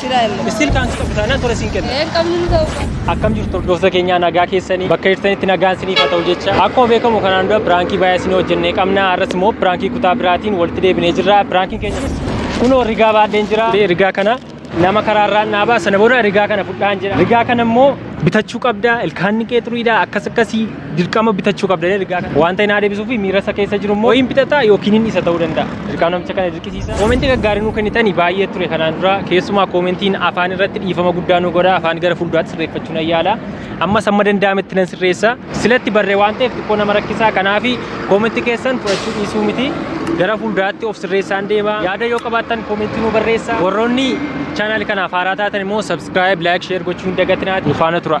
Shira illee. Istiil kaansi qabu taanaan tola siin kenna. Een qabnu nu ta'uu qabu. Akkam jirtu hordoftoota keenyaa nagaa keessanii bakka jirtanitti nagaan isiniif haa ta'u jecha akkuma beekamu kanaan dura piraankii baay'ee isin hojjennee qabna har'as immoo piraankii kutaa biraatiin walitti deebinee jirra piraankiin keenya kunis kunoo rigaa baadheen jira rigaa kana nama karaarraan dhaabaa sana booda rigaa kana fudhaan jedha rigaa kana immoo bitachuu qabda ilkaan ni qeexuriidha akkas akkasii dirqama bitachuu qabda jedhee ergaa kana wanta hin deebisuu fi miira isa keessa jiru immoo hin bitataa yookiin hin isa ta'uu danda'a. Dirqama namicha kana dirqisiisa. Koomentii gaggaarii nuu kennitanii baay'ee ture kanaan dura keessumaa koomentiin afaan irratti dhiifama guddaa nu godha afaan gara fuulduraatti sirreeffachuu nan yaala. Ammas amma danda'ametti nan sirreessa. Silatti barree waan ta'eef xiqqoo nama rakkisaa kanaaf koomentii keessan fudhachuu dhiisuu miti. Gara fuulduraatti of sirreessaan deema. Yaada yoo qabaattan koomentii nuu barreessa. Warroonni chaanaal kanaaf haaraa taatan immoo subscribe, like, share gochuu hin dagatinaa. Nufaana tura.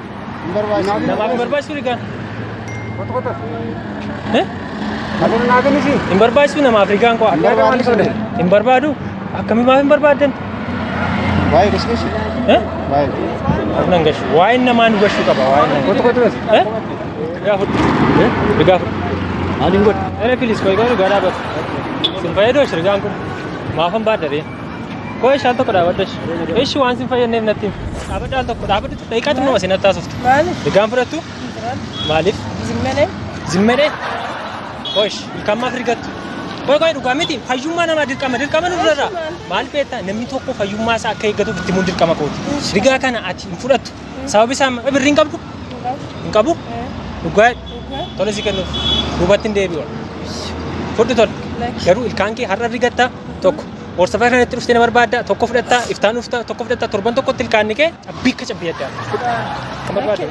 Namaaf hin barbaachisu rigaan. Eh? Hin barbaachisu namaaf rigaan koo. Hin barbaadu. Akkamii maaf hin barbaaddan? Eh? Nan gashu. Waa'een namaa nu gashuu qaba. Waa'een namaa. Eh? Rigaa fudhu. Eh? Rigaa fudhu. Maaliin godhu? Ere pilis koo egaa rigaa dhaabatu. Sin fayyadoo rigaan kun. Maafan baaddaree. Koo ishaan tokko dhaabadha ishi. Ishi waan sin fayyadneef natti himi. Dhaabadha al tokko dhaabadha tokko daqiiqaa xinnoo asii natti haasoftu. Maaliif? Egaan fudhattu maaliif? Zimmelee? Zimmedee? Koo ishi ilkaan maaf rigattu? Koo koo dhugaa miti fayyummaa namaa dirqama dirqama nu durarraa. Maal beektaa namni tokko fayyummaa isaa akka eeggatuuf itti himuun dirqama kooti. Rigaa kana ati hin fudhattu. Sababi isaa birrii hin qabdu? Hin qabu? Dhugaa tole si kennuuf duubatti hin deebi'u. Fudhu tole. Garuu ilkaan kee har'a rigatta tokko horsafaa kanatti dhuftee na barbaadda tokko fudhattaa iftaan dhufta tokko fudhattaa torban tokkotti ilkaanni kee cabbii akka cabbii adda kan barbaadde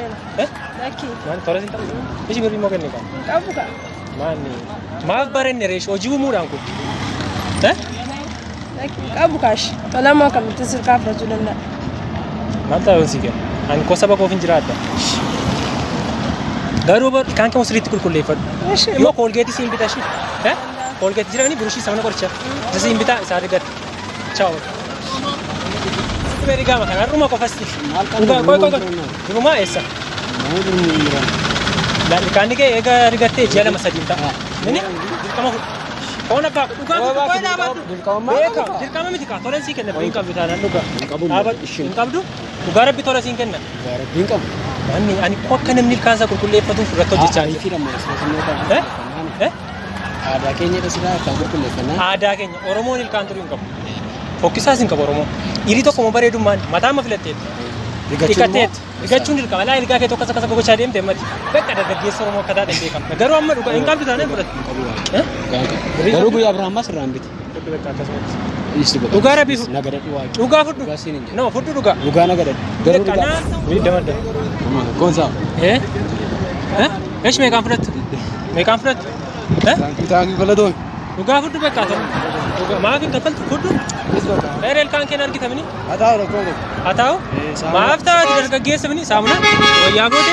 Eh? Lakki. maal tola sin ta'u isi birrii moo kenne kan Hin qabu ka. maanni maaf barenne reesh hojii uumuudhaan kun Eh? Lakki hin qabu kaash. Tola moo kamittiin sirkaa fudhachuu danda'a. maal ta'u si kenna ani koo saba koof hin jiraadha garuu bar- ilkaan kee sirriitti qulqulleeffadhu Ishee. immoo koolgeetii siin bita ishii Eh? Koolgeet jiraanii burushii sabana qoricha. Isa siin bitaa isaa argatta. Chaaw. Sitti beerii gaama kana har'uma qofasti. Dhugaa qoy qoy qoy. Durumaa eessa? Ilkaanni kee eega argattee ji'a lama sadiin ta'a. Inni dirqama fudha. Foon abbaa koo dhugaa guutuu qoy dhaabadhu. Beeka dirqama miti kaa tolan sii kenna hin qabdu taanaan dhugaa. Dhaabadhu hin qabdu. Dhugaa rabbi tola siin kenna. Namni ani akka namni ilkaan isaa qulqulleeffatuuf irratti hojjechaa jira. Eh? Eh? Aadaa keenya irra siraa akkaan qulqulleeffannaa. Aadaa keenya Oromoon ilkaan turuu hin qabu. Fokkisaas hin qabu Oromoon. Dhiirii tokko immoo bareedummaan mataa amma filatteet. Dhiqatteet. Dhiqachuun dirqama. Laa ilgaa kee tokko akkasa gogochaa deemte mati. Bakka dargaggeessa Oromoo akka taate beekama. Garuu amma dhugaa hin qabdu taanaan fudhatu. Garuu guyyaa Abrahaam maas irraa hin bitu. Fudhu beekaa akkasumatti. Dhiisi bakka. Dhugaa rabbii fudhu. Na gadadhu waaqni. Dhugaa fudhu. Dhugaa siin hin jedhu. No fudhu dhugaa. Dhugaa na gadadhu. Garuu Beekaa dhugaa. naa. Wii dabarda. Goonsaa. Eh? Eh? Esh meeqaan fudhattu? Meeqaan fudhattu? Eh? Taanki galatoon. Dhugaa fudhu beekaa ta'u. Dhugaa maaf hin kaffaltu fudhu. Eereel kaan keen argitamini. Hataa tokko. Haa ta'u. Eh, saamuna. Maaf ta'u ati dargaggeessa mini saamuna. Wayyaa goote.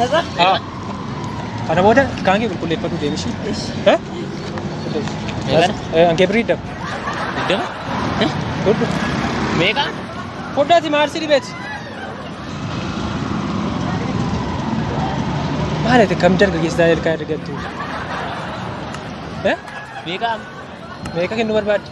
Nazar. Ah. Kana booda kaan kee qulqulleeffadhu deemi ishii. Eh? Eegan. Eh, Ankee birrii dab. Iddama? Godhu. Meeqa? Foddaati maarsi dhibeeti. Maal ati kam dargaggeessaa ilkaan argattu? Eh? Meeqa? Meeqa kennuu barbaadde?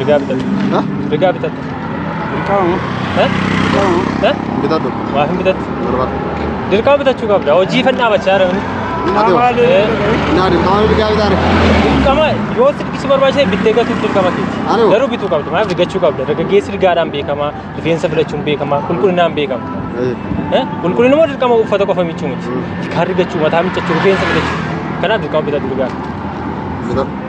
Rigaa bitadhu. Ha? Rigaa bitadhu. Dirqama moo? Eh? Dirqama moo? Eh? Bitadhu. Waa hin bitadhu. Barbaadu. Dirqama bitachuu qabda. Hojii fan dhaabachaa jira. Ati hoo? Maali? Eh. Naa dirqama mirgaa bitaare. Dirqama yoo sirbi si barbaachise bittee gatuuf dirqama keeti. Ani hoo? Garuu bituu qabda. Maaliif rigachuu qabda? Dargaggeessi rigaadhaan beekama. Rifeensa filachuun beekama. Qulqullinaan beekama. Eh? Qulqullina moo dirqama uffata qofa miiccuu miti. Mm. Kaan rigachuu, mataa miiccachuu, rifeensa filachuu. Kanaaf dirqama bitadhu rigaa. Bitadhu.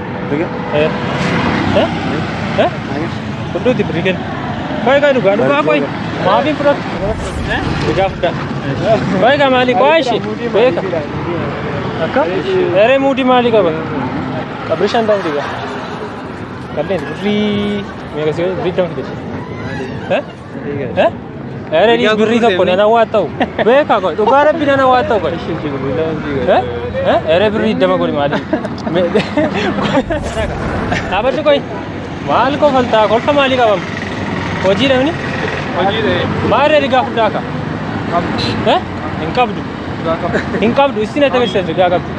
Fudhuuti birrii kenna. Qoy qoy dhugaa dhugaa qoy. Maafiin fudhatu. Dhugaa fudhaa. Qoy gaa maalii qoy ishi. Beeka. Akka? Eree muudii maalii qaba? Qabri shan ta'u dhigaa. Qalleen birrii meeqa si birrii dama fidete. Eh? Ere ni birri tokko nana waa ta'u. Beeka koo dhugaa rabbi nana waa ta'u koo. Eh? Eh? Ere birri iddama godhi maali? Me- Dhaabadhu koi. Maal koo faltaa kolfa maalii qabam? Hojii dhabni? Hojii ta'e Maal reedi gaa fuddaa ka? Eh? Hin qabdu. dhugaa qaba. Hin qabdu. Isin ati agarsiisa gaa qabdu.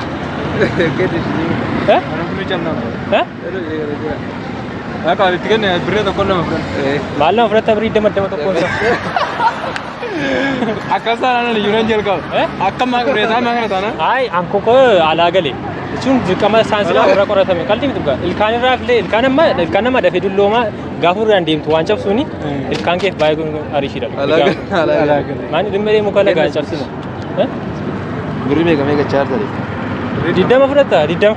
Gadi ishee. Eh? Mana buluu callaan. Eh? Akka walitti kenne birree tokko lama fudhan. Maal nama fudhatta birrii dama dama tokko isa. Akka isaan aanan iyyuu nan jalqaba. Akka maa birree isaa maa kana taana. Ayi anko koo alaa gale. Jechuun dirqama saayinsii irra qoratame. Qalbii miti dhugaa. Ilkaan irraa filee ilkaan amma ilkaan nama dafee dulloomaa gaafa irraan deemtu waan cabsuuni ilkaan keef baay'ee kun ariishiidha. Maani dhimma deemu kana gaan cabsina. Birrii meeqa meeqa chaartare? Diddama fudhatta diddama.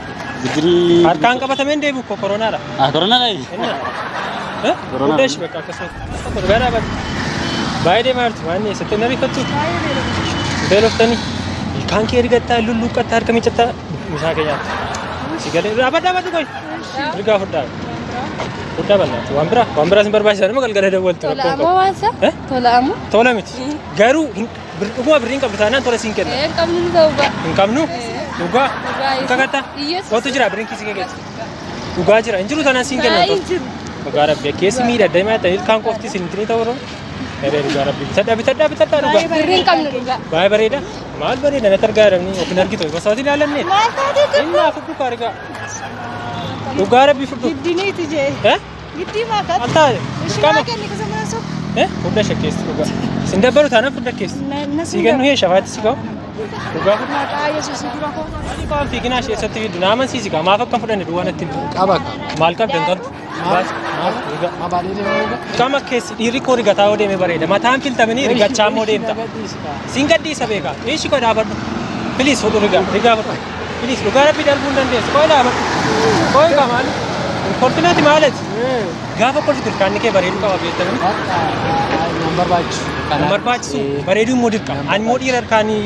Bidirii. Harkaan qabatamee hin deebi'u koo koronaadha. Ah, koronaa dhayi. Eh? Koronaadha. Hunda ishee bakka akkasumas. Gara bakka. Baay'ee deemaa jirti waan eessatti hin ariifattu. Beeloftanii. Ilkaan kee ergattaa, lulluuqqattaa, harka miiccattaa, misaa kee nyaatta. Si galee dhaabadha dhaabadha qoy. Ergaa fudhaa. Fudhaa bal'aatu. Waan biraa waan biraas hin barbaachisan nama galgala dawwaltu. Tola amoo waan isaa? Eh? Tola amoo? Tola miti. Garuu hin Bir- Dhuguma birrii hin qabdu taanaan tola siin kenna. Ee, qabnu nu ta'u ba'a. Hin qabnu? Ee. Dhugaa? Dhugaa Hin kakattaa? Iyyesuus. Kootu jira birriin kiisii kee keessa. Dhugaa jira. Hin jiru taanaan siin kenna. Baay'ee jiru. Dhugaa rabbi akkeessi miidha daa'ima ta'e ilkaan qofti isin ittiin ta'u irra. Eree dhugaa rabbi bitadhaa bitadhaa bitadhaa dhugaa. Birri hin qabnu dhugaa. Baay'ee bareeda. Maal bareeda natti argaa jiranii yookiin argitu osoo ati ilaalanne. Maal taatee Inni hafu dhugaa argaa. Dhugaa rabbi fudhu. jiddiniiti jee. Eh? Giddii maakat. Altaa Ishii dirqama. maa kenni kusa mana soba. Eh, furda shakkeessi dhugaa. Sin dabbaru taana furda keessa. Sii kennu hee shafaatti si ka'u. Dhugaa furda. Maqaa Yesuus dura koo. Ani waan fiiginaa ishee eessatti fiddu naaman siisi kaa maaf akka hin fudhanne duwwaa natti himi. Qaba qaba. Maal qabda hin qabdu. Baas maaf dhugaa. Abaalee deemaa eega. Qaama keessi dhiirri koo rigataa yoo deeme bareeda. Mataan filtamanii rigachaa immoo deemta. Siin gadhiisa beekaa. Dhiishi koo dhaabadhu. Piliis fudhu rigaa. Rigaa fudhu. Please dhugaa rabbii darbuu hin dandeessu. Qoy laama. Qoy qamaan. Kolfinati maalet. Gaafa kolfitu ilkaanni kee bareedu qaba beektamu. Nan barbaachisu. Kan barbaachisu bareeduu immoo dirqama. Ani immoo dhiira ilkaanii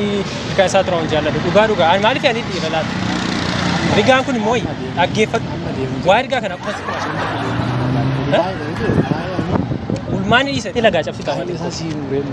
ilkaan isaa turan jaalladhu. Dhugaa dhugaa. Ani maaliif ani dhiira laata? Rigaan kun immoo dhaggeeffadhu. Waa ergaa kana akkuma si kumaashe. Ulmaan dhiisa. Ilagaa cabsi qaama. Isa siiruu reemu.